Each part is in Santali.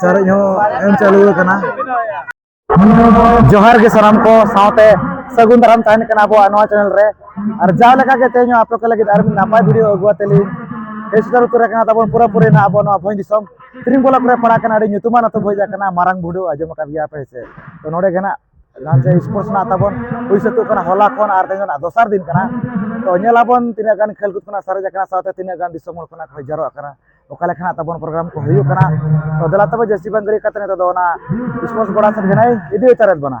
ᱪᱟᱨᱮᱡ ᱦᱚᱸ ᱮᱢ ᱪᱟᱹᱞᱩ ᱟᱠᱟᱱᱟ ᱡᱚᱦᱟᱨ ᱜᱮ ᱥᱟᱱᱟᱢ ᱠᱚ ᱥᱟᱶᱛᱮ ᱥᱟᱹᱜᱩᱱ ᱫᱟᱨᱟᱢ ᱛᱟᱦᱮᱱ ᱠᱟᱱᱟ ᱟᱵᱚᱣᱟᱜ ᱱᱚᱣᱟ ᱪᱮᱱᱮᱞ ᱨᱮ ᱟᱨ ᱡᱟᱣ ᱞᱮᱠᱟ ᱜᱮ ᱛᱮᱦᱮᱧ ᱟᱯᱮ ᱠᱚ ᱞᱟᱹᱜᱤᱫ ᱟᱨ ᱢᱤᱫ ᱱᱟᱯᱟᱭ ᱵᱷᱤᱰᱤᱭᱳ ᱟᱹᱜᱩ ᱟᱛᱮ ᱞᱤᱧ ᱦᱮᱡ ᱥᱮᱴᱮᱨ ᱩᱛᱟᱹᱨ ᱟᱠᱟᱱᱟ ᱛᱟᱵᱚᱱ ᱯᱩᱨᱟᱹᱯᱩᱨᱤ ᱱᱟᱜ ᱟᱵᱚ ᱱᱚᱣᱟ ᱵᱷᱚᱸᱡᱽ ᱫᱤᱥᱚᱢ ᱛᱨᱤᱝᱜᱚᱞᱟ ᱠᱚᱨᱮ ᱯᱟᱲᱟᱜ ᱠᱟᱱᱟ ᱟᱹᱰᱤ ᱧᱩᱛᱩᱢᱟᱱ ᱟᱛᱳ ᱵᱷᱚᱡᱟ ᱠᱟᱱᱟ ᱢᱟᱨᱟᱝ ᱵᱷᱩᱰᱩ ᱟᱸᱡᱚᱢ ᱟᱠᱟᱫ ᱜᱮᱭᱟ ᱯᱮ ᱥᱮ ᱛᱚ ᱱᱚᱰᱮ ᱜᱮ ᱱᱟᱜ ᱞᱟᱱᱪ ᱥᱯᱳᱨᱴᱥ ᱨᱮᱱᱟᱜ ᱛᱟᱵᱚᱱ ᱦᱩᱭ ᱥᱟᱹᱛᱚᱜ ᱠᱟᱱᱟ ᱦᱚᱞᱟ ᱠᱷᱚᱱ ᱟᱨ ᱛᱮᱦᱮᱧ ᱨᱮᱱᱟᱜ ᱫᱚᱥᱟᱨ ᱫᱤᱱ ᱠᱟᱱᱟ ᱛᱚ ᱧᱮᱞᱟᱵᱚᱱ ᱛᱤᱱᱟᱹᱜ ᱜᱟᱱ ᱠᱷᱮᱞ ᱠᱩᱫ ᱠᱷᱚᱱᱟᱜ ᱥᱟᱨᱮᱡ ᱟᱠᱟᱱᱟ ᱥᱟᱶᱛᱮ ᱛᱤᱱᱟᱹᱜ ᱜᱟᱱ ᱫᱤᱥᱚᱢ ᱦᱚᱲ ᱠᱷᱚᱱᱟᱜ ᱠᱚ ᱡᱟᱨᱚᱜ ᱠᱟᱱᱟ ᱚᱠᱟ ᱞᱮᱠᱟᱱᱟᱜ ᱛᱟᱵᱚᱱ ᱯᱨᱳᱜᱨᱟᱢ ᱠᱚ ᱦᱩᱭᱩᱜ ᱠᱟᱱᱟ ᱛᱚ ᱫᱮᱞᱟ ᱛᱚᱵᱮ ᱡᱟᱹᱥᱛᱤ ᱵᱟᱝ ᱜᱟᱹᱲᱤ ᱠᱟᱛᱮ ᱱᱤᱛᱚᱜ ᱫᱚ ᱚᱱᱟ ᱥᱯᱳᱨᱴᱥ ᱜᱚᱰᱟ ᱥᱮᱫ ᱜᱮ ᱤᱫᱤ ᱦᱟᱛᱟᱲᱮᱫ ᱵᱚᱱᱟ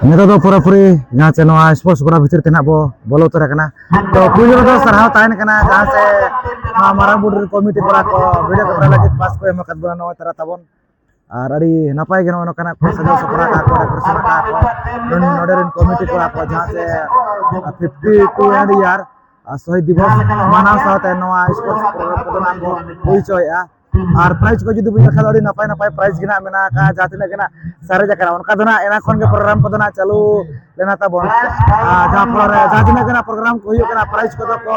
ᱱᱤᱛᱚᱜ ᱫᱚ ᱯᱩᱨᱟᱹᱯᱩᱨᱤ ᱡᱟᱦᱟᱸ ᱪᱮ ᱱᱚᱣᱟ ᱥᱯᱳᱨᱴᱥ ᱜᱚᱲᱟ ᱵᱷᱤᱛᱤᱨ ᱛᱮ ᱱᱟᱜ ᱵᱚ ᱵᱚᱞᱚ ᱩᱛᱟᱹᱨ ᱟᱠᱟᱱᱟ ᱛᱚ ᱯᱩᱭᱞᱩ ᱨᱮᱫᱚ ᱥᱟᱨᱦᱟᱣ ᱛᱟᱦᱮᱱ ᱠᱟᱱᱟ ᱡᱟᱦᱟᱸ ᱥᱮ ᱱᱚᱣᱟ ᱢᱟᱨᱟᱝ ᱵᱩᱨᱩ ᱠᱚᱢᱤᱴᱤ ᱠᱚᱲᱟ ᱠᱚ ᱵᱷᱤᱰᱤᱭᱳ ᱠᱮᱢᱮᱨᱟ ᱞᱟᱹᱜᱤᱫ ᱯᱟᱥ ᱠᱚ ᱮᱢ ᱟᱠᱟᱫ ᱵᱚᱱᱟ ᱱᱚᱜᱼᱚᱭ ᱛᱟᱨᱟ ᱛᱟᱵᱚᱱ ᱟᱨ ᱟᱹᱰᱤ ᱱᱟᱯᱟᱭ ᱜᱮ ᱱᱚᱜᱼᱚ ᱱᱚᱝᱠᱟᱱᱟᱜ ᱠᱚ ᱥᱟᱡᱟᱣ ᱥᱟᱯᱲᱟᱣ ᱠᱟᱜᱼᱟ ᱠᱚ ᱰᱮᱠᱳᱨᱮᱥᱚᱱ ᱠᱟᱜᱼᱟ ᱠᱚ ᱱᱚᱰᱮ ᱨᱮᱱ ᱠᱚᱢᱤᱴᱤ ᱠᱚᱲᱟ ᱠᱚ ᱡᱟᱦᱟᱸ ᱥᱮ ᱯᱷᱤᱯᱴᱤ ᱴᱩ ᱦᱟᱱᱰᱨᱮᱰ ᱤᱭᱟᱨ ᱥᱚᱦᱤᱫ ᱫᱤᱵᱚᱥ ᱢᱟᱱᱟᱣ ᱥᱟᱶᱛᱮ ᱱᱚᱣᱟ ᱥᱯᱳᱨᱴᱥ ᱯᱨᱳᱜᱨᱟᱢ ᱠᱚᱫᱚ ᱱᱟᱜ ᱠᱚ ᱦᱩᱭ ᱦᱚᱪᱚᱭᱮᱫᱼᱟ ᱟᱨ ᱯᱨᱟᱭᱤᱡᱽ ᱠᱚ ᱡᱩᱫᱤ ᱵᱚᱱ ᱧᱮᱞ ᱠᱷᱟᱱ ᱟᱹᱰᱤ ᱱᱟᱯᱟᱭ ᱱᱟᱯᱟᱭ ᱯᱨᱟᱭᱤᱡᱽ ᱜᱮ ᱱᱟᱜ ᱢᱮᱱᱟᱜ ᱟᱠᱟᱫᱼᱟ ᱡᱟᱦᱟᱸ ᱛᱤᱱᱟᱹᱜ ᱜᱮ ᱱᱟᱜ ᱥᱟᱨᱮᱡ ᱟᱠᱟᱱᱟ ᱚᱱᱠᱟ ᱫᱚ ᱱᱟᱜ ᱮᱱᱟ ᱠᱷᱚᱱ ᱜᱮ ᱯᱨᱳᱜᱨᱟᱢ ᱠᱚᱫᱚ ᱱᱟᱜ ᱪᱟᱹᱞᱩ ᱞᱮᱱᱟ ᱛᱟᱵᱚᱱ ᱡᱟᱦᱟᱸ ᱯᱷᱚᱞᱚ ᱨᱮ ᱡᱟᱦᱟᱸ ᱛᱤᱱᱟᱹᱜ ᱜᱮ ᱱᱟᱜ ᱯᱨᱳᱜᱨᱟᱢ ᱠᱚ ᱦᱩᱭᱩᱜ ᱠᱟᱱᱟ ᱯᱨᱟᱭᱤᱡᱽ ᱠᱚᱫᱚ ᱠᱚ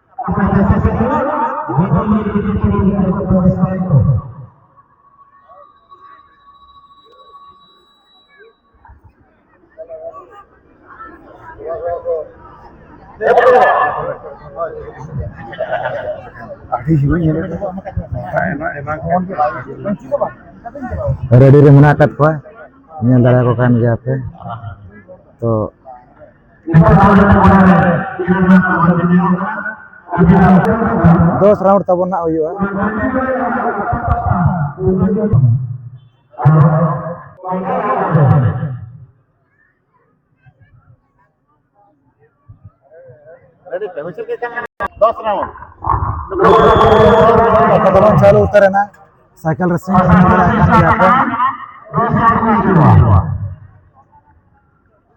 ᱨᱮᱰᱤ ᱨᱮ ᱢᱮᱱᱟᱜ ᱟᱠᱟᱫ ᱠᱚᱣᱟ ᱧᱮᱞ ᱫᱟᱲᱮᱭᱟᱠᱚ ᱠᱟᱱ ᱜᱮᱭᱟ ᱯᱮ ᱛᱚ ᱫᱚᱥ ᱨᱟᱣᱩᱱᱰ ᱛᱟᱵᱚᱱ ᱱᱟᱜ ᱦᱩᱭᱩᱜᱼᱟ ᱫᱚᱥ ᱨᱟᱣᱩᱱᱰ ᱚᱠᱟ ᱫᱚᱵᱚᱱ ᱪᱟᱹᱞᱩ ᱩᱛᱟᱹᱨᱮᱱᱟ ᱥᱟᱭᱠᱮᱞ ᱨᱮ ᱥᱤᱝ ᱵᱟᱲᱟᱭ ᱠᱟᱱ ᱜᱮᱭᱟ ᱠᱚ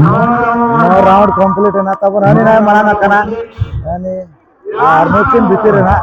ᱱᱚᱣᱟ ᱨᱟᱣᱩᱱᱰ ᱠᱚᱢᱯᱞᱤᱴ ᱮᱱᱟ ᱛᱟᱨᱯᱚᱨ ᱦᱟᱹᱱᱤ ᱱᱟᱭ ᱢᱟᱲᱟᱝ ᱟᱠᱟᱱᱟ ᱦᱟᱹᱱᱤ ᱟᱨ ᱱᱩᱠᱤᱱ ᱵᱷᱤᱛᱤᱨ ᱨᱮᱱᱟᱜ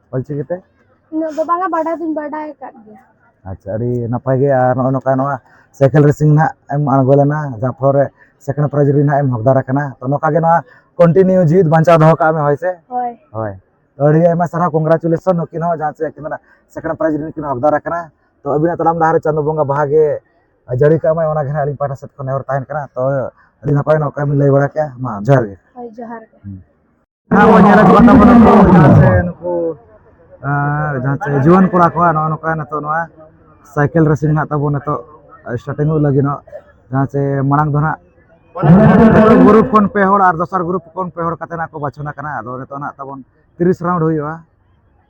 ᱚᱞᱪᱤᱠᱤ ᱛᱮ ᱩᱱᱟᱹᱜ ᱫᱚ ᱵᱟᱝᱟ ᱵᱟᱰᱟᱭ ᱫᱚᱧ ᱵᱟᱰᱟᱭ ᱟᱠᱟᱫ ᱜᱮᱭᱟ ᱟᱪᱪᱷᱟ ᱟᱹᱰᱤ ᱱᱟᱯᱟᱭ ᱜᱮ ᱟᱨ ᱱᱚᱜᱼᱚᱭ ᱱᱚᱝᱠᱟ ᱱᱚᱣᱟ ᱥᱟᱭᱠᱮᱞ ᱨᱮᱥᱤᱝ ᱱᱟᱜ ᱮᱢ ᱟᱬᱜᱚ ᱞᱮᱱᱟ ᱡᱟᱦᱟᱸ ᱯᱷᱚᱞ ᱨᱮ ᱥᱮᱠᱮᱱᱰ ᱯᱨᱟᱭᱤᱡᱽ ᱨᱮ ᱱᱟᱜ ᱮᱢ ᱦᱚᱠᱫᱟᱨ ᱟᱠᱟᱱᱟ ᱛᱚ ᱱᱚᱝᱠᱟ ᱜᱮ ᱱᱚᱣᱟ ᱠᱚᱱᱴᱤᱱᱤᱭᱩ ᱡᱤᱣᱤᱫ ᱵᱟᱧᱪᱟᱣ ᱫᱚᱦᱚ ᱠᱟᱜ ᱢᱮ ᱦᱳᱭ ᱥᱮ ᱦᱳᱭ ᱦᱳᱭ ᱛᱚ ᱟᱹᱰᱤ ᱟᱭᱢᱟ ᱥᱟᱨᱦᱟᱣ ᱠᱚᱝᱜᱨᱟᱪᱩᱞᱮᱥᱚᱱ ᱱᱩᱠᱤᱱ ᱦᱚᱸ ᱡᱟᱦᱟᱸ ᱥᱮ ᱟᱹᱠᱤᱱ ᱫᱚ ᱥᱮᱠᱮᱱᱰ ᱯᱨᱟᱭᱤᱡᱽ ᱨᱮ ᱠᱤᱱ ᱦᱚᱠᱫᱟᱨ ᱟᱠᱟᱱᱟ ᱛᱚ ᱟᱹᱵᱤᱱᱟᱜ ᱛᱟᱲᱟᱢ ᱰᱟᱦᱟᱨ ᱨᱮ ᱪᱟᱸᱫᱳ ᱵᱚᱸᱜᱟ ᱵᱟᱦᱟ ᱜᱮ ᱡᱟᱹᱲᱤ ᱠᱟᱜ ᱢᱟᱭ ᱚᱱᱟ ᱜᱮ ᱱᱟᱜ ᱟᱹᱞᱤᱧ ᱯᱟᱦᱴᱟ ᱥᱮᱫ ᱠᱷᱚᱱ ᱱᱮᱦᱚᱨ ᱛᱟᱦᱮᱱ ᱠᱟᱱᱟ ᱛᱚ ᱟᱹᱰᱤ ᱱᱟᱯᱟᱭ ᱱᱚᱝᱠᱟ ᱵᱤᱱ ᱞᱟᱹᱭ ᱵᱟᱲᱟ ᱠᱮᱜᱼᱟ ᱢᱟ ᱡᱚᱦᱟᱨ ᱜᱮ ᱦᱳᱭ ᱡᱚᱦᱟᱨ ᱜᱮ ᱡᱟᱦᱟᱸ ᱵᱚᱱ ᱧᱮᱞ ᱟᱹᱜᱩ ᱠᱟᱫ ᱛᱟᱵᱚᱱᱟ ᱱᱩᱠᱩ ᱡᱟᱦᱟᱸ ᱥᱮ ᱱᱩᱠᱩ ᱟᱨ ᱡᱟᱦᱟᱸ ᱥᱮ ᱡᱩᱣᱟᱹᱱ ᱠᱚᱲᱟ ᱠᱚᱣᱟᱜ ᱱᱚᱜᱼᱚ ᱱᱚᱝᱠᱟ ᱱᱤᱛᱚᱜ ᱱᱚᱣᱟ ᱥᱟᱭᱠᱮᱞ ᱨᱮᱥᱤᱝ ᱦᱟᱸᱜ ᱛᱟᱵᱚᱱ ᱱᱤᱛᱚᱜ ᱥᱴᱟᱨᱴᱤᱝ ᱚᱜ ᱞᱟᱹᱜᱤᱫᱚᱜ ᱡᱟᱦᱟᱸ ᱥᱮ ᱢᱟᱲᱟᱝ ᱫᱚ ᱦᱟᱸᱜ ᱯᱨᱚᱛᱷᱚᱢ ᱜᱨᱩᱯ ᱠᱷᱚᱱ ᱯᱮ ᱦᱚᱲ ᱟᱨ ᱫᱚᱥᱟᱨ ᱜᱨᱩᱯ ᱠᱷᱚᱱ ᱯᱮ ᱦᱚᱲ ᱠᱟᱛᱮ ᱦᱟᱸᱜ ᱠᱚ ᱵᱟᱪᱷᱚᱱ ᱟᱠᱟᱱᱟ ᱟᱫᱚ ᱱᱤᱛᱚᱜ ᱦᱟᱸᱜ ᱛᱟᱵᱚᱱ ᱛᱤᱨᱤᱥ ᱨᱟᱣᱩᱱᱰ ᱦᱩᱭᱩᱜᱼᱟ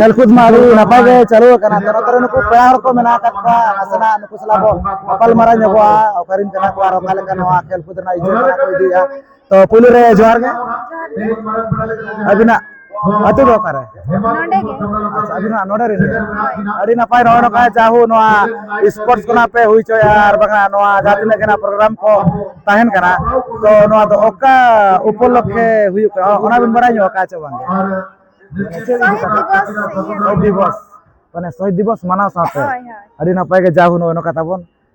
ᱠᱷᱮᱞᱠᱩᱫ ᱢᱟ ᱟᱹᱰᱤ ᱱᱟᱯᱟᱭ ᱜᱮ ᱪᱟᱹᱞᱩ ᱟᱠᱟᱱᱟ ᱛᱚ ᱱᱚᱛᱮ ᱨᱮ ᱱᱩᱠᱩ ᱯᱮᱲᱟ ᱦᱚᱲ ᱠᱚ ᱢᱮᱱᱟᱜ ᱟᱠᱟᱫ ᱠᱚᱣᱟ ᱱᱟᱥᱮᱱᱟᱜ ᱱᱩᱠᱩ ᱥᱟᱞᱟᱜ ᱵᱚ ᱜᱟᱯᱟᱞᱢᱟᱨᱟᱣ ᱧᱚᱜᱚᱜᱼᱟ ᱚᱠᱟᱨᱮᱱ ᱠᱟᱱᱟ ᱠᱚ ᱟᱨ ᱚᱠᱟ ᱞᱮᱠᱟ ᱱᱚᱣᱟ ᱠᱷᱮᱞᱠᱩᱫ ᱨᱮᱱᱟᱜ ᱤᱭᱟᱹ ᱠᱚ ᱤᱫᱤᱭᱟ ᱛᱚ ᱯᱩᱭᱞᱩ ᱨᱮ ᱡᱚᱦᱟᱨ ᱜᱮ ᱟᱹᱵᱤᱱᱟᱜ ᱟᱹᱛᱩ ᱫᱚ ᱚᱠᱟᱨᱮ ᱟᱪᱪᱷᱟ ᱟᱹᱵᱤᱱ ᱦᱟᱸᱜ ᱱᱚᱰᱮ ᱨᱮᱱ ᱟᱹᱰᱤ ᱱᱟᱯᱟᱭ ᱨᱚᱲ ᱠᱟᱜᱼᱟ ᱡᱟᱦᱳ ᱱᱚᱣᱟ ᱥᱯᱳᱨᱴᱥ ᱠᱷᱚᱱᱟᱜ ᱯᱮ ᱦᱩᱭ ᱦᱚᱪᱚᱭᱟ ᱟᱨ ᱵᱟᱝᱟ ᱱᱚᱣᱟ ᱡᱟᱦᱟᱸ ᱛᱤᱱᱟᱹᱜ ᱜᱮ ᱯᱨᱳᱜᱨᱟᱢ ᱠᱚ ᱛᱟᱦᱮᱱ ᱠᱟᱱᱟ ᱛᱚ ᱱᱚᱣᱟ ᱫᱚ ᱚᱠᱟ ᱩᱯᱚᱞᱚᱠᱠᱷᱮ ᱦᱩᱭᱩᱜ ᱠᱟᱱᱟ ᱚᱱᱟ ᱵᱤᱱ ᱵᱟᱲᱟᱭ ᱧᱚᱜ ᱠᱟᱜᱼᱟ ᱪᱮ ᱵᱟᱝ ᱥᱚᱦᱤᱫ ᱫᱤᱵᱚᱥ ᱢᱟᱱᱮ ᱥᱚᱦᱤᱫ ᱫᱤᱵᱚᱥ ᱢᱟᱱᱟᱣ ᱥᱟᱶᱛᱮ ᱟᱹᱰᱤ ᱱᱟᱯᱟᱭ ᱜᱮ ᱡᱟᱦᱳ ᱱᱚᱜᱼᱚᱭ ᱱᱚᱝᱠᱟ ᱛᱟᱵᱚᱱ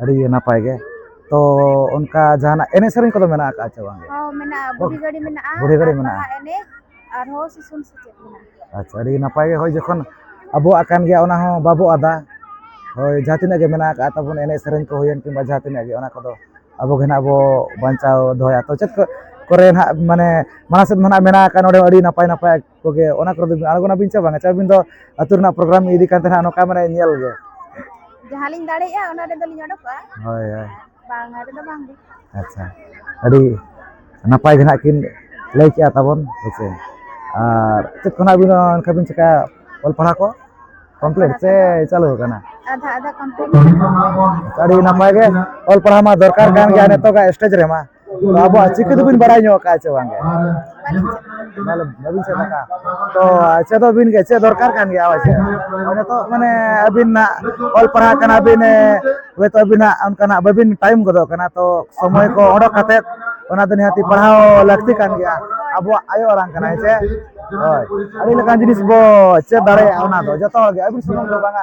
ᱟᱹᱰᱤ ᱜᱮ ᱱᱟᱯᱟᱭ ᱜᱮ ᱛᱚ ᱚᱱᱠᱟ ᱡᱟᱦᱟᱱᱟᱜ ᱮᱱᱮᱡ ᱥᱮᱨᱮᱧ ᱠᱚᱫᱚ ᱢᱮᱱᱟᱜ ᱟᱠᱟᱫ ᱪᱮ ᱵᱟᱝ ᱦᱚᱸ ᱢᱮᱱᱟᱜᱼᱟ ᱵᱩᱰᱷᱤ ᱜᱟᱹᱰᱤ ᱢᱮᱱᱟᱜᱼᱟ ᱵᱩᱰᱷᱤ ᱜᱟᱹᱰᱤ ᱢᱮᱱᱟᱜᱼᱟ ᱵᱟᱦᱟ ᱮᱱᱮᱡ ᱟᱨᱦᱚᱸ ᱥᱤᱥᱩᱱ ᱥᱮᱪᱮᱫ ᱢᱮᱱᱟᱜᱼᱟ ᱟᱪᱪᱷᱟ ᱟᱹᱰᱤ ᱱᱟᱯᱟᱭ ᱜᱮ ᱦᱳᱭ ᱡᱚᱠᱷᱚᱱ ᱟᱵᱚᱣᱟᱜ ᱠᱟᱱ ᱜᱮᱭᱟ ᱚᱱᱟ ᱦᱚᱸ ᱵᱟᱵᱚ ᱟᱫᱟ ᱦᱳᱭ ᱡᱟᱦᱟᱸ ᱛᱤᱱᱟᱹᱜ ᱜᱮ ᱢᱮᱱᱟᱜ ᱟᱠᱟᱫ ᱛᱟᱵᱚᱱ ᱮᱱᱮᱡ ᱥᱮᱨᱮᱧ ᱠᱚ ᱦᱩᱭᱮᱱ ᱠᱤᱝᱵᱟ ᱡᱟᱦᱟᱸ ᱛᱤᱱᱟᱹᱜ ᱜᱮ ᱚᱱᱟ ᱠᱚᱫᱚ ᱟᱵᱚ ᱜᱮ ᱱᱟᱦᱟᱜ ᱵᱚ ᱵᱟᱧᱪᱟᱣ ᱫᱚᱦᱚᱭᱟ ᱛᱚ ᱪᱮᱫ ᱠᱚ ᱠᱚᱨᱮ ᱱᱟᱦᱟᱜ ᱢᱟᱱᱮ ᱢᱟᱲᱟᱝ ᱥᱮᱫ ᱢᱟ ᱱᱟᱦᱟᱜ ᱢᱮᱱᱟᱜ ᱟᱠᱟᱫ ᱱᱚᱰᱮ ᱟᱹᱰᱤ ᱱᱟᱯᱟᱭ ᱱᱟᱯᱟᱭ ᱠᱚᱜᱮ ᱚᱱᱟ ᱠᱚᱨᱮ ᱫᱚ ᱟᱬᱜᱚᱱᱟᱵᱤᱱ ᱪᱮ ᱵᱟᱝᱟ ᱪᱮ ᱟᱹᱵᱤᱱ ᱫᱚ ᱟᱹᱛᱩ ᱨᱮᱱᱟᱜ ᱯᱨᱳᱜᱨᱟᱢ ᱤᱫᱤ ᱠᱟᱛᱮ ᱦᱟᱸᱜ ᱱᱚᱝᱠᱟ ᱢᱟᱱᱮ ᱧᱮᱞ ᱜᱮ ᱡᱟᱦᱟᱸ ᱞᱤᱧ ᱫᱟᱲᱮᱭᱟᱜᱼᱟ ᱚᱱᱟ ᱨᱮᱫᱚ ᱞᱤᱧ ᱚᱰᱚᱠᱚᱜᱼᱟ ᱦᱳᱭ ᱦᱳᱭ ᱵᱟᱝᱟ ᱨᱮᱫᱚ ᱵᱟᱝ ᱜᱮ ᱟᱪᱪᱷᱟ ᱟᱹᱰᱤ ᱱᱟᱯᱟᱭ ᱜᱮ ᱦᱟᱸᱜ ᱠᱤᱱ ᱞᱟᱹᱭ ᱠᱮᱜᱼᱟ ᱛᱟᱵᱚᱱ ᱦᱮᱸᱥᱮ ᱟᱨ ᱪᱮᱫ ᱠᱚ ᱦᱟᱸᱜ ᱟᱹᱵᱤᱱ ᱦᱚᱸ ᱚᱱᱠᱟ ᱵᱤᱱ ᱪᱮᱠᱟᱭᱟ ᱚᱞ ᱯᱟᱲᱦᱟᱣ ᱠᱚ ᱠᱚᱢᱯᱞᱤᱴ ᱥᱮ ᱪᱟᱹᱞᱩ ᱟᱠᱟᱱᱟ ᱟᱫᱷᱟ ᱟᱫᱷᱟ ᱠᱚᱢᱯᱞᱤᱴ ᱟᱹᱰᱤ ᱱᱟᱯᱟᱭ ᱜᱮ ᱚᱞ ᱯᱟᱲᱦᱟᱣ ᱢᱟ ᱫᱚᱨᱠᱟᱨ ᱠᱟᱱ ᱜᱮᱭᱟ ᱱᱤᱛᱚᱜᱟᱜ ᱥᱴᱮᱡᱽ ᱨᱮᱢᱟ ᱟᱵᱚᱣᱟᱜ ᱪᱤᱠᱤ ᱫᱚᱵᱤᱱ ᱵᱟᱲᱟᱭ ᱧᱚᱜ ᱠᱟᱜᱼᱟ ᱥᱮ ᱵᱟᱝ ᱵᱟᱹᱵᱤᱱ ᱥᱮᱫ ᱟᱠᱟᱫᱼᱟ ᱛᱚ ᱪᱮᱫᱚᱜ ᱵᱤᱱ ᱜᱮ ᱪᱮᱫ ᱫᱚᱨᱠᱟᱨ ᱠᱟᱱ ᱜᱮᱭᱟ ᱦᱳᱭ ᱥᱮ ᱱᱤᱛᱚᱜ ᱢᱟᱱᱮ ᱟᱹᱵᱤᱱ ᱱᱟᱜ ᱚᱞ ᱯᱟᱲᱦᱟᱜ ᱠᱟᱱᱟ ᱵᱤᱱ ᱦᱚᱭᱛᱳ ᱟᱹᱵᱤᱱᱟᱜ ᱚᱱᱠᱟᱱᱟᱜ ᱵᱟᱹᱵᱤᱱ ᱴᱟᱭᱤᱢ ᱜᱚᱫᱚᱜ ᱠᱟᱱᱟ ᱛᱚ ᱥᱚᱢᱚᱭ ᱠᱚ ᱚᱰᱚᱠ ᱠᱟᱛᱮᱫ ᱚᱱᱟ ᱫᱚ ᱱᱤᱦᱟᱹᱛᱤ ᱯᱟᱲᱦᱟᱣ ᱞᱟᱹᱠᱛᱤ ᱠᱟᱱ ᱜᱮᱭᱟ ᱟᱵᱚᱣᱟᱜ ᱟᱭᱳ ᱟᱲᱟᱝ ᱠᱟᱱᱟ ᱦᱮᱸ ᱥᱮ ᱦᱳᱭ ᱟᱹᱰᱤ ᱞᱮᱠᱟᱱ ᱡᱤᱱᱤᱥ ᱵᱚ ᱪᱮᱫ ᱫᱟᱲᱮᱭᱟᱜᱼᱟ ᱚᱱᱟ ᱫᱚ ᱡᱚᱛᱚ ᱦᱚᱲ ᱜᱮ ᱟᱹᱵᱤᱱ ᱥᱩᱢᱩᱝ ᱫᱚ ᱵᱟᱝᱟ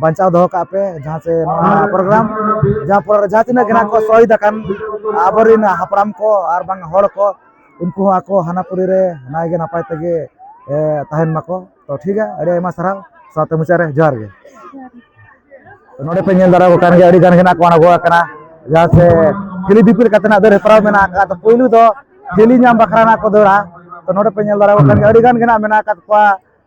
ᱵᱟᱧᱪᱟᱣ ᱫᱚᱦᱚ ᱠᱟᱜ ᱯᱮ ᱡᱟᱦᱟᱸ ᱥᱮ ᱱᱚᱣᱟ ᱯᱨᱳᱜᱨᱟᱢ ᱡᱟᱦᱟᱸ ᱯᱨᱳᱜᱨᱟᱢ ᱡᱟᱦᱟᱸ ᱛᱤᱱᱟᱹᱜ ᱜᱮ ᱱᱟᱜ ᱠᱚ ᱥᱚᱦᱤᱫ ᱟᱠᱟᱱ ᱟᱵᱚᱨᱮᱱ ᱦᱟᱯᱲᱟᱢ ᱠᱚ ᱟᱨ ᱵᱟᱝ ᱦᱚᱲ ᱠᱚ ᱩᱱᱠᱩ ᱦᱚᱸ ᱟᱠᱚ ᱦᱟᱱᱟᱯᱩᱨᱤ ᱨᱮ ᱱᱟᱭ ᱜᱮ ᱱᱟᱯᱟᱭ ᱛᱮᱜᱮ ᱛᱟᱦᱮᱱ ᱢᱟᱠᱚ ᱛᱚ ᱴᱷᱤᱠ ᱜᱮᱭᱟ ᱟᱹᱰᱤ ᱟᱭᱢᱟ ᱥᱟᱨᱦᱟᱣ ᱥᱟᱶᱛᱮ ᱢᱩᱪᱟᱹᱫ ᱨᱮ ᱡᱚᱦᱟᱨ ᱜᱮ ᱱᱚᱰᱮ ᱯᱮ ᱧᱮᱞ ᱫᱟᱲᱮᱭᱟᱠᱚ ᱠᱟᱱ ᱜᱮᱭᱟ ᱟᱹᱰᱤ ᱜᱟᱱ ᱜᱮ ᱱᱟᱜ ᱠᱚ ᱟᱬᱜᱚ ᱟᱠᱟᱱᱟ ᱡᱟᱦᱟᱸ ᱥᱮ ᱦᱤᱞᱤ ᱫᱤᱯᱤᱞ ᱠᱟᱛᱮ ᱱᱟᱜ ᱫᱟᱹᱲ ᱦᱮᱯᱨᱟᱣ ᱢᱮᱱᱟᱜ ᱟᱠᱟᱫ ᱛᱚ ᱯᱩᱭᱞᱩ ᱫᱚ ᱦᱤᱞᱤ ᱧᱟᱢ ᱵᱟᱠᱷᱨᱟ ᱱᱟᱜ ᱠᱚ ᱫᱟᱹᱲᱟ ᱛᱚ ᱱᱚᱰᱮ ᱯᱮ ᱧᱮᱞ ᱫᱟᱲᱮᱭᱟᱠᱚ ᱠᱟᱱ ᱜᱮᱭᱟ ᱟᱹᱰᱤ ᱜᱟᱱ ᱜᱮ ᱱᱟᱜ ᱢᱮᱱᱟᱜ ᱟᱠᱟᱫ ᱠᱚᱣᱟ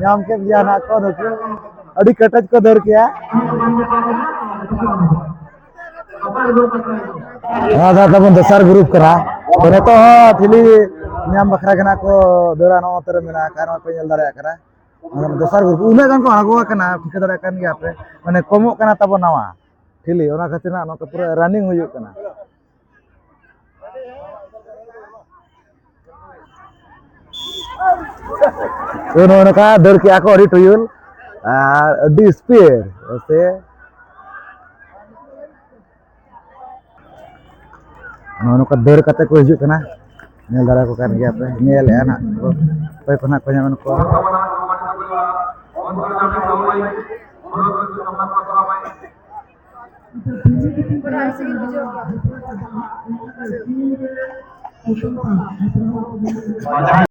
ᱧᱟᱢ ᱠᱮᱫ ᱜᱮᱭᱟ ᱱᱟᱜ ᱠᱚ ᱱᱩᱠᱩ ᱟᱹᱰᱤ ᱠᱮᱴᱮᱡ ᱠᱚ ᱫᱟᱹᱲ ᱠᱮᱭᱟ ᱱᱚᱣᱟ ᱫᱚ ᱛᱟᱵᱚᱱ ᱫᱚᱥᱟᱨ ᱜᱨᱩᱯ ᱠᱟᱱᱟ ᱛᱚ ᱱᱤᱛᱚᱜ ᱦᱚᱸ ᱴᱷᱤᱞᱤ ᱧᱟᱢ ᱵᱟᱠᱷᱨᱟ ᱜᱮ ᱱᱟᱜ ᱠᱚ ᱫᱟᱹᱲᱟ ᱱᱚᱣᱟ ᱛᱮᱨᱮ ᱢᱮᱱᱟᱜ ᱟᱠᱟᱫ ᱱᱚᱣᱟ ᱯᱮ ᱧᱮᱞ ᱫᱟᱲᱮᱭᱟᱜ ᱠᱟᱱᱟ ᱫᱚᱥᱟᱨ ᱜᱨᱩᱯ ᱩᱱᱟᱹᱜ ᱜᱟᱱ ᱠᱚ ᱟᱬᱜᱚ ᱟᱠᱟᱱᱟ ᱴᱷᱤᱠᱟᱹ ᱫᱟᱲᱮᱭᱟᱜ ᱠᱟᱱ ᱜᱮᱭᱟ ᱯᱮ ᱢᱟᱱᱮ ᱠᱚᱢᱚᱜ ᱠᱟᱱᱟ ᱛᱟᱵᱚ ᱱᱟᱣᱟ ᱴᱷᱤᱞᱤ ᱚᱱᱟ ᱠᱷᱟᱹᱛᱤᱨ ᱦᱟᱸᱜ ᱱᱚᱛᱮ ᱯᱩᱨᱟᱹ ᱨᱟᱱᱤᱝ ᱦᱩᱭᱩᱜ ᱠᱟᱱᱟ ᱛᱚ ᱱᱚᱜᱼᱚ ᱱᱚᱝᱠᱟ ᱫᱟᱹᱲ ᱠᱮᱜᱼᱟ ᱠᱚ ᱟᱹᱰᱤ ᱴᱩᱭᱩᱞ ᱟᱨ ᱟᱹᱰᱤ ᱥᱯᱤᱰ ᱥᱮ ᱱᱚᱜᱼᱚ ᱱᱚᱝᱠᱟ ᱫᱟᱹᱲ ᱠᱟᱛᱮ ᱠᱚ ᱦᱤᱡᱩᱜ ᱠᱟᱱᱟ ᱧᱮᱞ ᱫᱟᱲᱮ ᱠᱚ ᱠᱟᱱ ᱜᱮᱭᱟ ᱯᱮ ᱧᱮᱞᱮᱫᱼᱟ ᱱᱟᱜ ᱠᱚ ᱚᱠᱚᱭ ᱠᱚ ᱱᱟᱜ ᱠᱚ ᱧᱟᱢ ᱠᱚ Thank you.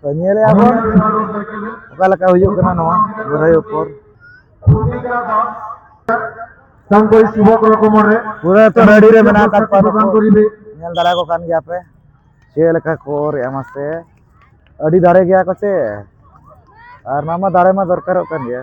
ᱛᱚ ᱧᱮᱞ ᱮᱫᱟ ᱵᱚᱱ ᱚᱠᱟ ᱞᱮᱠᱟ ᱦᱩᱭᱩᱜ ᱠᱟᱱᱟ ᱱᱚᱣᱟ ᱵᱚᱨᱟᱭ ᱩᱯᱚᱨ ᱥᱟᱝᱠᱚᱭ ᱥᱩᱵᱷᱚ ᱠᱚ ᱨᱚᱠᱚᱢ ᱨᱮ ᱯᱩᱨᱟᱹ ᱛᱚ ᱨᱮᱰᱤ ᱨᱮ ᱢᱮᱱᱟᱜ ᱟᱠᱟᱫ ᱠᱚᱣᱟ ᱵᱟᱝ ᱠᱚ ᱨᱤᱵᱮ ᱧᱮᱞ ᱫᱟᱲᱮ ᱠᱚ ᱠᱟᱱ ᱜᱮᱭᱟ ᱯᱮ ᱪᱮᱫ ᱞᱮᱠᱟ ᱠᱚ ᱚᱨ ᱮᱢᱟ ᱥᱮ ᱟᱹᱰᱤ ᱫᱟᱲᱮ ᱜᱮᱭᱟ ᱠᱚ ᱥᱮ ᱟᱨ ᱱᱚᱣᱟ ᱢᱟ ᱫᱟᱲᱮ ᱢᱟ ᱫᱚᱨᱠᱟᱨᱚᱜ ᱠᱟᱱ ᱜᱮᱭᱟ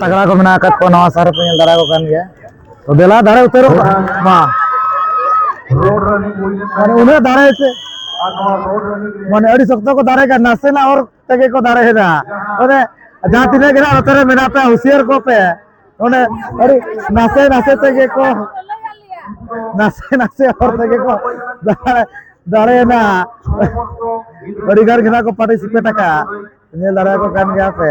ᱛᱟᱜᱽᱲᱟ ᱠᱚ ᱢᱮᱱᱟᱜ ᱟᱠᱟᱫ ᱠᱚᱣᱟ ᱱᱟᱣᱟ ᱥᱟᱨ ᱠᱚ ᱧᱮᱞ ᱫᱟᱨᱟ ᱠᱚ ᱠᱟᱱ ᱜᱮᱭᱟ ᱛᱚ ᱫᱮᱞᱟ ᱫᱟᱨᱮ ᱩᱛᱟᱹᱨᱚᱜ ᱢᱟ ᱢᱟᱱᱮ ᱩᱱᱟᱹᱜ ᱫᱟᱨᱮ ᱥᱮ ᱢᱟᱱᱮ ᱟᱹᱰᱤ ᱥᱚᱠᱛᱚ ᱠᱚ ᱫᱟᱨᱮ ᱠᱟᱱᱟ ᱱᱟᱥᱮᱱᱟᱜ ᱦᱚᱨ ᱛᱮᱜᱮ ᱠᱚ ᱫᱟᱨᱮ ᱮᱫᱟ ᱢᱟᱱᱮ ᱡᱟᱦᱟᱸ ᱛᱤᱱᱟᱹᱜ ᱜᱮ ᱱᱚᱛᱮ ᱨᱮ ᱢᱮᱱᱟᱜ ᱯᱮ ᱦᱩᱥᱤᱭᱟᱨ ᱠᱚ ᱯᱮ ᱢᱟᱱᱮ ᱟᱹᱰᱤ ᱱᱟᱥᱮ ᱱᱟᱥᱮ ᱛᱮᱜᱮ ᱠᱚ ᱱᱟᱥᱮ ᱱᱟᱥᱮ ᱦᱚᱨ ᱛᱮᱜᱮ ᱠᱚ ᱫᱟᱨᱮ ᱫᱟᱲᱮᱭᱮᱱᱟ ᱟᱹᱰᱤ ᱜᱟᱱ ᱜᱮ ᱱᱟᱜ ᱠᱚ ᱯᱟᱨᱴᱤᱥᱤᱯᱮᱴ ᱟᱠᱟᱫ ᱧᱮᱞ ᱫᱟᱲᱮᱭᱟᱠᱚ ᱠᱟᱱ ᱜᱮᱭᱟ ᱯᱮ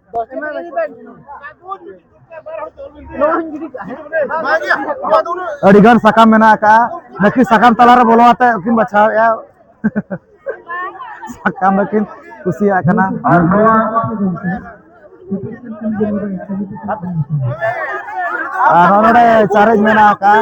ᱟᱹᱰᱤ ᱜᱟᱱ ᱥᱟᱠᱟᱢ ᱢᱮᱱᱟᱜ ᱟᱠᱟᱫᱼᱟ ᱱᱟᱹᱠᱤ ᱥᱟᱠᱟᱢ ᱛᱟᱞᱟᱨᱮ ᱵᱚᱞᱚ ᱟᱛᱮ ᱩᱱᱠᱤᱱ ᱵᱟᱪᱷᱟᱣᱮᱫᱼᱟ ᱥᱟᱠᱟᱢ ᱫᱚᱠᱤᱱ ᱠᱩᱥᱤᱭᱟᱜ ᱠᱟᱱᱟ ᱟᱨ ᱱᱚᱣᱟ ᱟᱨ ᱱᱚᱰᱮ ᱪᱟᱨᱮᱡ ᱢᱮᱱᱟᱜ ᱟᱠᱟᱫᱼᱟ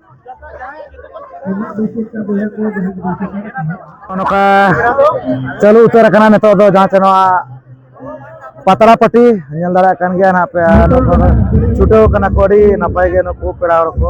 ᱱᱚᱝᱠᱟ ᱪᱟᱹᱞᱩ ᱩᱛᱟᱹᱨ ᱟᱠᱟᱱᱟ ᱱᱤᱛᱚᱜ ᱫᱚ ᱡᱟᱦᱟᱸ ᱪᱮ ᱱᱚᱣᱟ ᱯᱟᱛᱲᱟ ᱯᱟᱹᱴᱤ ᱧᱮᱞ ᱫᱟᱲᱮᱭᱟᱜ ᱠᱟᱱ ᱜᱮᱭᱟ ᱱᱟᱦᱟᱜ ᱯᱮ ᱱᱩᱠᱩ ᱫᱚ ᱪᱷᱩᱴᱟᱹᱣ ᱠᱟᱱᱟ ᱠᱚ ᱟᱹᱰᱤ ᱱᱟᱯᱟᱭ ᱜᱮ ᱱᱩᱠᱩ ᱯᱮᱲᱟ ᱦᱚᱲ ᱠᱚ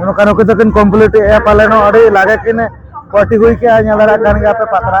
ᱱᱚᱝᱠᱟ ᱱᱩᱠᱩ ᱫᱚᱠᱤᱱ ᱠᱚᱢᱯᱞᱤᱴ ᱮᱫᱼᱟ ᱯᱟᱞᱮᱱ ᱟᱹᱰᱤ ᱞᱟᱜᱮ ᱠᱤᱱ ᱯᱟᱹᱴᱤ ᱦᱩᱭ ᱠᱮᱜᱼᱟ ᱧᱮᱞ ᱫᱟᱲᱮᱭᱟᱜ ᱠᱟᱱ ᱜᱮᱭᱟ ᱯᱮ ᱯᱟᱛᱲᱟ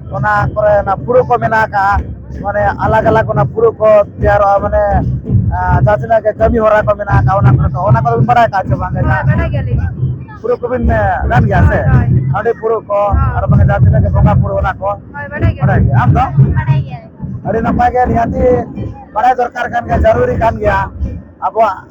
ᱚᱱᱟ ᱠᱚᱨᱮ ᱚᱱᱟ ᱯᱩᱨᱟᱹ ᱠᱚ ᱢᱮᱱᱟᱜ ᱟᱠᱟᱜᱼᱟ ᱢᱟᱱᱮ ᱟᱞᱟᱜᱽ ᱟᱞᱟᱜᱽ ᱚᱱᱟ ᱯᱩᱨᱟᱹ ᱠᱚ ᱛᱮᱭᱟᱨᱚᱜᱼᱟ ᱢᱟᱱᱮ ᱡᱟᱦᱟᱸ ᱛᱤᱱᱟᱹᱜ ᱜᱮ ᱠᱟᱹᱢᱤ ᱦᱚᱨᱟ ᱠᱚ ᱢᱮᱱᱟᱜ ᱟᱠᱟᱜᱼᱟ ᱚᱱᱟ ᱠᱚᱨᱮ ᱫᱚ ᱚᱱᱟ ᱠᱚᱫᱚ ᱵᱤᱱ ᱵᱟᱲᱟᱭ ᱟᱠᱟᱜᱼᱟ ᱪᱮ ᱵᱟᱝ ᱯᱩᱨᱟᱹ ᱠᱚᱵᱤᱱ ᱜᱟᱱ ᱜᱮᱭᱟ ᱥᱮ ᱦᱟᱺᱰᱤ ᱯᱩᱨᱟᱹ ᱠᱚ ᱟᱨ ᱵᱟᱝ ᱡᱟᱦᱟᱸ ᱛᱤᱱᱟᱹᱜ ᱜᱮ ᱵᱚᱸᱜᱟ ᱯᱩᱨᱟᱹ ᱚᱱᱟ ᱠᱚ ᱵᱟᱲᱟᱭ ᱜᱮᱭᱟ ᱟᱢ ᱫᱚ ᱟᱹᱰᱤ ᱱᱟᱯᱟᱭ ᱜᱮ ᱱᱤᱦᱟᱹᱛᱤ ᱵᱟᱲᱟᱭ ᱫᱚᱨᱠᱟᱨ ᱠᱟᱱ ᱜᱮᱭᱟ ᱡᱟᱹᱨᱩᱨᱤ ᱠᱟᱱ ᱜᱮᱭᱟ ᱟᱵᱚᱣᱟᱜ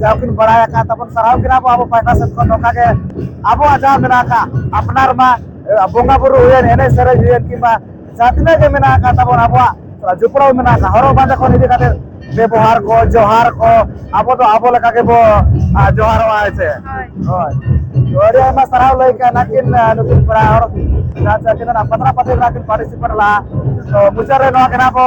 ᱡᱟᱦᱟᱸ ᱠᱤᱱ ᱵᱟᱲᱟᱭ ᱟᱠᱟᱫ ᱛᱟᱵᱚᱱ ᱥᱟᱨᱦᱟᱣ ᱠᱤᱱᱟ ᱵᱚ ᱟᱵᱚ ᱯᱟᱦᱴᱟ ᱥᱮᱫ ᱠᱷᱚᱱ ᱱᱚᱝᱠᱟ ᱜᱮ ᱟᱵᱚᱣᱟᱜ ᱡᱟᱦᱟᱸ ᱢᱮᱱᱟᱜ ᱟᱠᱟᱫ ᱟᱯᱱᱟᱨ ᱢᱟ ᱵᱚᱸᱜᱟ ᱵᱩᱨᱩ ᱦᱩᱭᱮᱱ ᱮᱱᱮᱡ ᱥᱮᱨᱮᱧ ᱦᱩᱭᱮᱱ ᱠᱤᱝᱵᱟ ᱡᱟᱦᱟᱸ ᱛᱤᱱᱟᱹᱜ ᱜᱮ ᱢᱮᱱᱟᱜ ᱟᱠᱟᱫ ᱛᱟᱵᱚᱱ ᱟᱵᱚᱣᱟᱜ ᱡᱚᱯᱲᱟᱣ ᱢᱮᱱᱟᱜ ᱟᱠᱟᱫ ᱦᱚᱨᱚᱜ ᱵᱟᱸᱫᱮ ᱠᱷᱚᱱ ᱤᱫᱤ ᱠᱟᱛᱮ ᱵᱮᱵᱚᱦᱟᱨ ᱠᱚ ᱡᱚᱦᱟᱨ ᱠᱚ ᱟᱵᱚ ᱫᱚ ᱟᱵᱚ ᱞᱮᱠᱟ ᱜᱮᱵᱚ ᱡᱚᱦᱟᱨᱚᱜᱼᱟ ᱦᱮᱸ ᱥᱮ ᱦᱳᱭ ᱟᱹᱰᱤ ᱟᱭᱢᱟ ᱥᱟᱨᱦᱟᱣ ᱞᱟᱹᱭ ᱠᱟᱜ ᱱᱟᱠᱤᱱ ᱱᱩᱠᱤᱱ ᱯᱮᱲᱟ ᱦᱚᱲ ᱡᱟᱦᱟᱸ ᱪᱮᱫ ᱠᱤᱱ ᱯᱟᱛᱲᱟ ᱯᱟᱛᱮ ᱨᱮ ᱠᱤᱱ ᱯᱟᱨᱴᱤᱥᱤᱯᱮᱴ ᱞᱟᱜᱼᱟ ᱛᱚ ᱢᱩᱪᱟᱹᱫ ᱨᱮ ᱱᱚᱣᱟ ᱠᱟᱱᱟ ᱵᱚ